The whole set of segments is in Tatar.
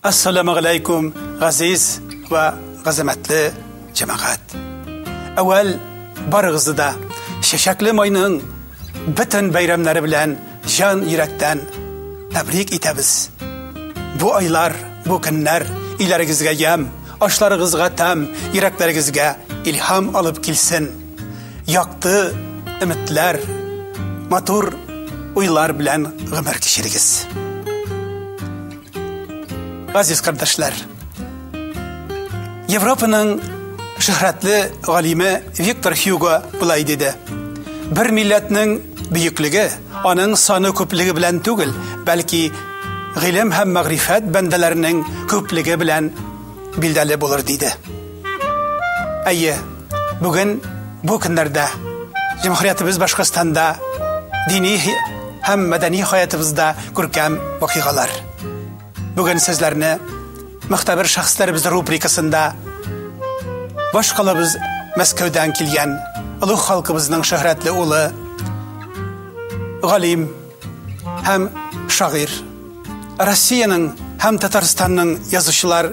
Ассалаумәгаләйкүм, газиз ва гәзәмәтле җәмәгать. Әүвәл барыгызны да чәчәкле майның бөтен бәйрәмнәре белән җан йөрәктән тәбрик итәбез. Бу айлар, бу көннәр иләрегезгә ямь, Ашларыгызга тәм, йөрәкләрегезгә илһам алып килсен. Якты өметләр, матур уйлар белән гомер кичерегез. Газиз кардәшләр, Европаның шөһрәтле галиме Виктор Хьюго былай диде: Бер милләтнең бөеклеге Аның саны күплеге белән түгел, бәлки гыйлем һәм мәгърифәт бәндәләренең күплеге белән билдәле булыр диде. Әйе, бүген бу көннәрдә җәмгыятебез Башкортстанда дини һәм мәдәни хаятыбызда күркәм вакыйгалар. Бүген сезләрне мөхтәбер шәхесләребез рубрикасында баш калабыз Мәскәүдән килгән олуг халкыбызның шөһрәтле улы галим һәм шагыйрь Россиянең һәм Татарстанның язучылар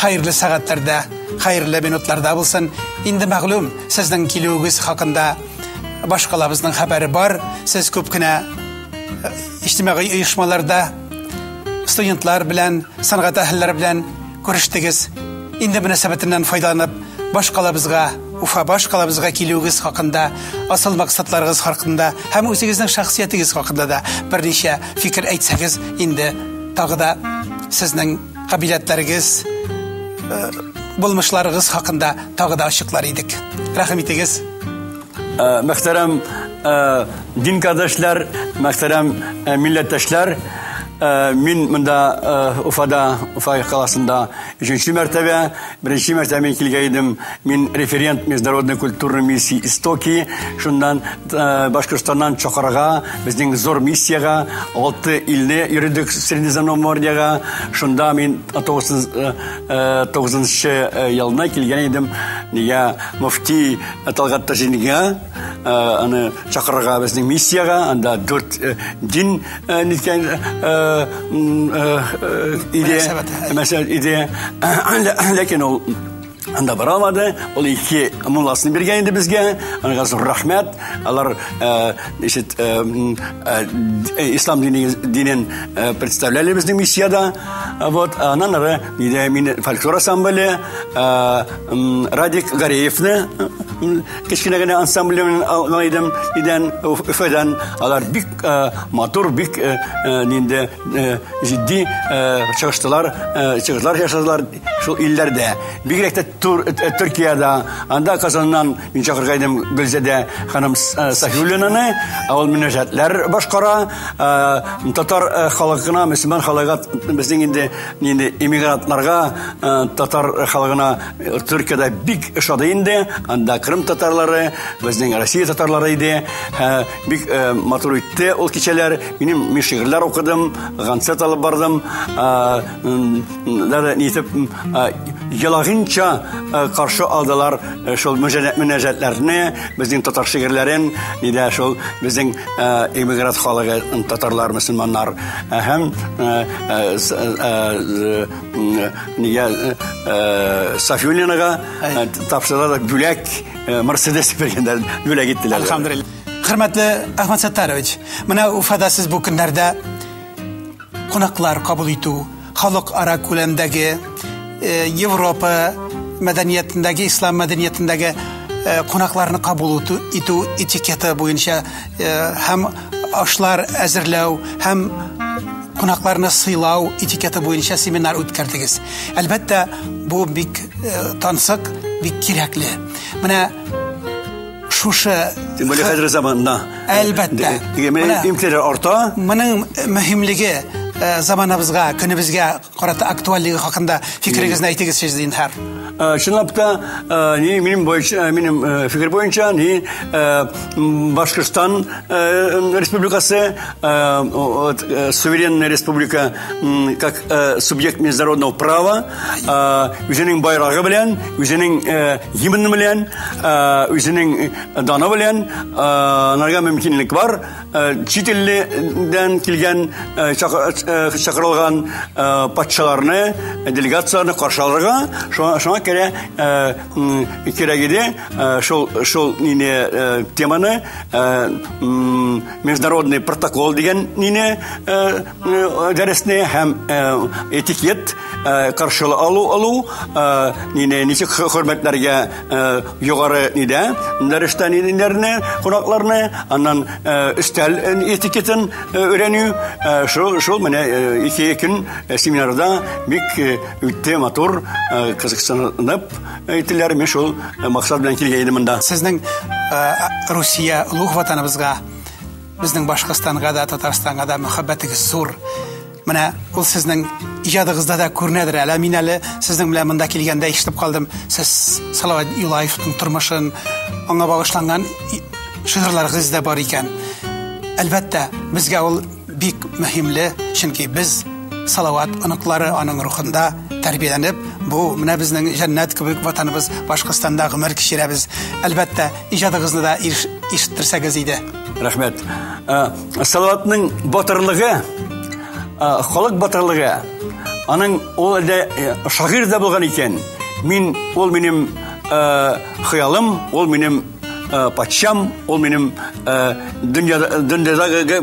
Хәерле сәгатьләрдә, хәерле минутларда булсын. Инде мәгълүм, сезнең килүегез хакында башкалабызның хәбәре бар. Сез күп кенә э, иҗтимагый оешмаларда студентлар белән, сәнгать әһелләре белән күрештегез. Инде мөнәсәбәтеннән файдаланып, башкалабызга, Уфа башкалабызга килүегез хакында, асыл максатларыгыз хакында һәм үзегезнең шәхсиятегез хакында да берничә фикер әйтсәгез, инде тагы да сезнең кабиләтләрегез э, булмышларыгыз хакында тагы да ачыклар идек рәхим итегез э, мөхтәрәм э, дин кардәшләр мөхтәрәм милләттәшләр мин монда уфада уфа каласында өченче мәртәбә Беренче мәртәбә мин килгән идем. Мин референт международной культурной миссии Истоки. Шуннан э, Башкортстаннан Чокырга, безнең зур миссиягә, алты илне йөрдек Средиземноморьега. Шунда мин 99 э, э, елына килгән идем. Нигә мөфти Талгат Таҗинга аны чакырырга безнең миссиягә, анда дүрт дин Э, ниткен э, э, идея мәсәлән идея ләкин ул анда бара алмады ул ике мулласын биргән инде безгә аңа зур рәхмәт алар ишет ислам дине динен представляли безнең миссияда вот анан ары идея мин фольклор ансамбле радик гареевны Кечкенә генә ансамблем белән алган идем идән Өфәдән. Алар бик э, матур, бик э, э, нинде җитди чыгыштылар, чыгышлар ясадылар шул илләрдә. Бигрәк тә Төркиядә, анда Казаннан мин чакырган идем Гөлзадә ханым Сафиуллинаны, ул мөнәҗәтләр башкара. Татар халкына, мөселман халыга безнең инде нинди эмигрантларга татар халкына Төркиядә бик ошады инде. Анда Крым татарлары, безнең Россия татарлары иде. Ә, бик ә, матур үтте ул кичәләр. Минем мин шигырьләр укыдым, концерт алып бардым. Ә, дәрә нитеп ялагынча каршы алдылар шул мөнәҗәтләрне, безнең татар шигырьләрен, нидә шул безнең эмигрант халыгы татарлар, мусламаннар һәм нигә Сафюлинага тапшыралар бүләк Мерседес биргәннәр, бүләк иттеләр. Алхамдулилла. Хөрмәтле Әхмәт Саттарович, менә Уфада сез бу көннәрдә кунаклар кабул итү, халыкара күләмдәге Европа мәдәниятендәге, ислам мәдәниятендәге кунакларны кабул итү этикеты буенча Э, һәм ашлар әзерләү һәм кунакларны сыйлау этикеты буенча семинар үткәрдегез. Әлбәттә, бу бик э, тансык, бик кирәкле. Менә шушы тем более хәзер заманда әлбәттә имтиләр арта моның мөһимлеге э, заманабызга көнебезгә Карата актуальлеге хакында фикерегезне әйтегез сез зинһар. Чынлап та, ни минем бойынша, минем фикер бойынша, ни Башкортстан республикасы суверенная республика как субъект международного права, үзенең байрагы белән, үзенең гимны белән, үзенең даны белән, нарга мөмкинлек бар. Э, чит илдән килгән э, э, чакырылган патшаларны делегацияләрне каршы алырга шуңа керә кирәк иде шул шул нине теманы международный протокол дигән нине Э, дәресне һәм э, этикет э, каршылы алу алу нине ничек хөрмәтләргә югары нидә дәрестә ниләрне кунакларны аннан өстәл этикетын өйрәнү шул шул менә ике көн семинарда бик үтте матур кызыксынып әйтеләр мен шул максат белән килгән идем монда сезнең Русия улуг ватаныбызга Безнең Башкортстанга да, Татарстанга да мәхәббәтегез зур. Менә ул сезнең иҗадыгызда да күренәдер әле. Мин әле сезнең белән монда килгәндә ишетеп калдым. Сез Салават Юлаевның тормышын, аңа багышланган шигырьләрегез дә бар икән. Әлбәттә, безгә ул бик мөһимле, чөнки без Салават оныклары аның рухында тәрбияләнеп, бу менә безнең җәннәт кебек ватаныбыз Башкортстанда гомер кичерәбез. Әлбәттә, иҗадыгызны да ишеттерсәгез иде. Рәхмәт. Салаватның батырлыгы, халык батырлыгы, аның ул әлдә э, шагыйрь дә булган икән. Мин ул минем э, хыялым, ул минем э, патшам, ул минем дөньяда дөньядагы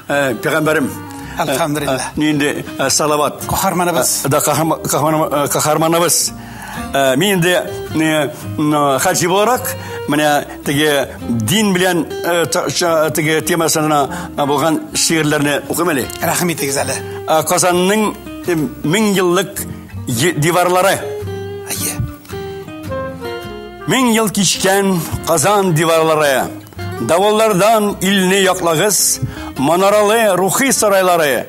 пәйгамбәрем. Әлхәмдулилла. Нинди салават. Каһарманыбыз. Да каһарманыбыз. Э, мин инде э, э, хаҗи буларак менә теге дин белән теге темасына булган шигырьләрне укыйм әле рәхим итегез әле казанның мең еллык диварлары әйе мең ел кичкән казан диварлары давыллардан илне яклагыз манаралы рухи сарайлары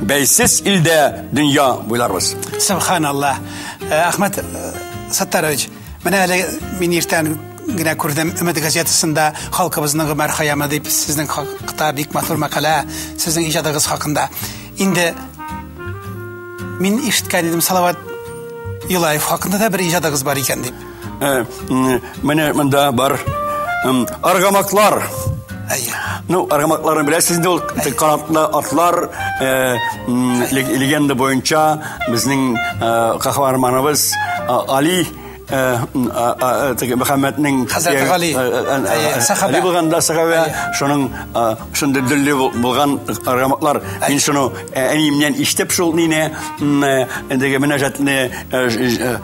Бәйсез илдә дөнья буйларбыз. Субханалла. Э, Ахмад э, Саттарович, менә әле мин иртән генә күрдем өмет газетасында халкыбызның гомәр хаямы дип сезнең хакта бик матур мәкалә сезнең иҗадыгыз хакында инде мин ишеткән идем салават юлаев хакында да бер иҗадыгыз бар икән дип Э, менә монда бар аргамаклар. Ну, аргамакларны беләсез инде ул канатлы атлар э, легенда буенча безнең э, каһарманыбыз Али Мөхәммәднең Хәзрәт Гали сахабә булганда сахабә шуның шундый дөлле булган раматлар мин шуны әниемнән ишетеп шул нине эндеге мөнәҗәтне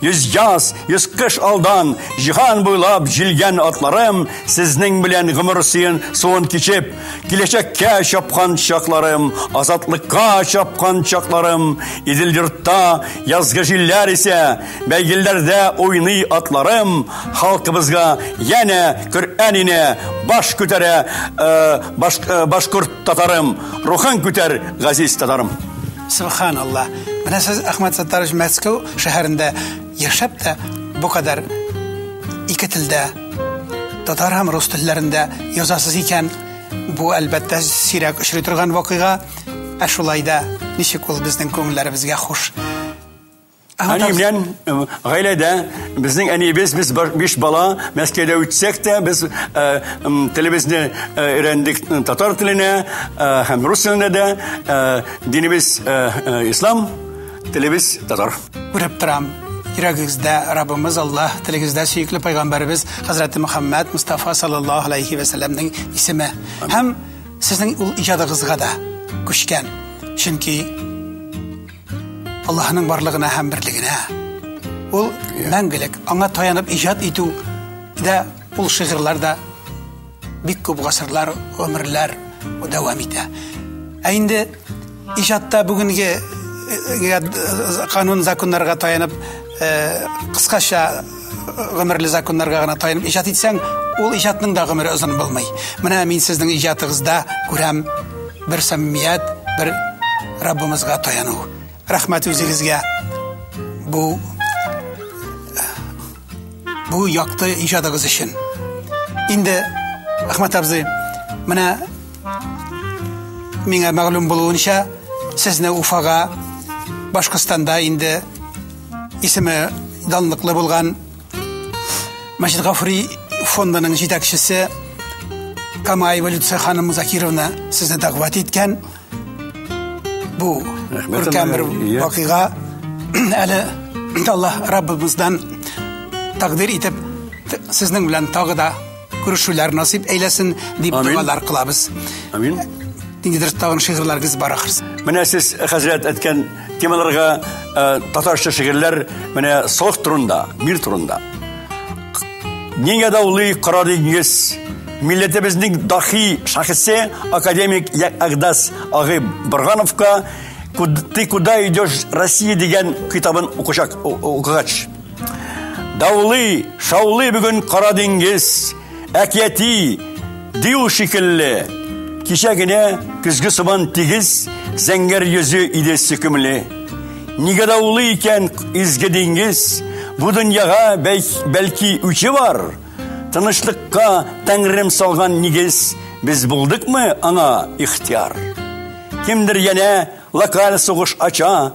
Йөз яз, йөз кыш алдан, җиһан буйлап җилгән атларым, сезнең белән гомер сыен суын кичеп, киләчәккә чапкан чакларым, азатлыкка чапкан чакларым, Идел йортта язгы җилләр исә, бәйгеләрдә уйный атларым, халкыбызга янә Коръән ине баш күтәрә, э, баш, э, башкорт татарым, рухын күтәр, газиз татарым. Субханалла. Менә сез, Әхмәт Саттарович, Мәскәү шәһәрендә яшәп тә бу кадәр ике телдә, татар һәм рус телләрендә язасыз икән, бу әлбәттә сирәк очрый торган вакыйга. Ә шулай да ничек ул безнең күңелләребезгә хуш. Әни белән гаиләдә безнең әниебез без биш бала Мәскәүдә үтсәк тә без телебезне өйрәндек татар теленә һәм рус теленә дә Динебез э, э, ислам, телебез татар. Күреп торам. Йөрәгегездә Раббыбыз Аллаһ, телегездә сөекле пайгамбарыбыз Хәзрәте Мөхәммәд Мустафа саллаллаһу алейхи ва сәлламның исеме һәм сезнең ул иҗадыгызга да күчкән. Чөнки Аллаһның барлыгына һәм берлегенә ул мәңгелек аңа таянып иҗат итү дә ул шигырьләр дә Бик күп гасырлар, гомерләр дәвам итә. Ә инде иҗатта бүгенге э, э, канун законнарга таянып, э, кыскача гомерле законнарга гына таянып иҗат итсәң, ул иҗатның да гомере озын булмый. Менә мин сезнең иҗатыгызда күрәм бер саммият, бер Раббымызга таяну. Рәхмәт үзегезгә. Бу бу якты иҗадыгыз өчен. Инде Ахмат абзый, менә миңа мәгълүм булуынча, сезне Уфага Башкортстанда инде исеме данлыклы булган Мәҗит Гафури фондының җитәкчесе Камаева Люция ханым Закировна сезне дәгъват иткән. Бу күркәм бер вакыйга әле Аллаһ Раббыбыздан тәкъдир итеп сезнең белән тагы да күрешүләр насыйп әйләсен дип дугалар кылабыз. Амин. Ниндидер тагын шигырьләрегез бар ахрысы. Менә сез хәзрәт әткән Темаларга э, татарча шигырьләр менә сох турында, мир турында. Нигә даулый кара диңгез? Милләтебезнең дахи шәхесе академик Ягдас Агып Боргановка Ты куда идешь, Россия дигән китабын укучак укыгач. Даулый, шаулый бүген кара диңгез. Әкияти дию шикелле, кичә генә көзге сабан тигез зәңгәр йөзе иде сөкемле. Нигә дә улы икән изге диңгез, бу дөньяга бәлки үче бар. Тынычлыкка тәңрем салган нигез, без булдыкмы аңа ихтияр? Кемдер янә локаль сугыш ача,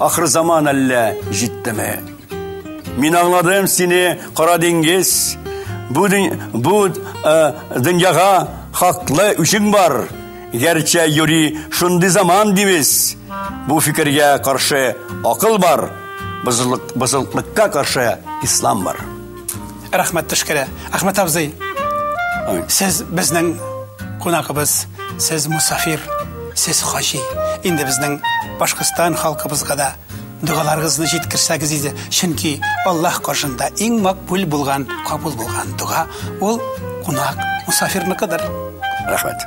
Ахыр заман әллә җиттеме? Мин аңладым сине, кара диңгез. Бу бу э, дөньяга хаклы үчең бар. Гәрчә юри шундый заман дибез. Бу фикергә каршы акыл бар. Бозылык бозылыклыкка каршы ислам бар. Рәхмәт төшкерә. Әхмәт абзый, сез безнең кунагыбыз, сез мусафир, сез хаҗи. Инде безнең Башкортстан халкыбызга да дугаларыгызны җиткерсәгез иде, чөнки Аллаһ каршында иң макбул булган, кабул булган дуга ул кунак, мусафирныкыдыр. Рәхмәт.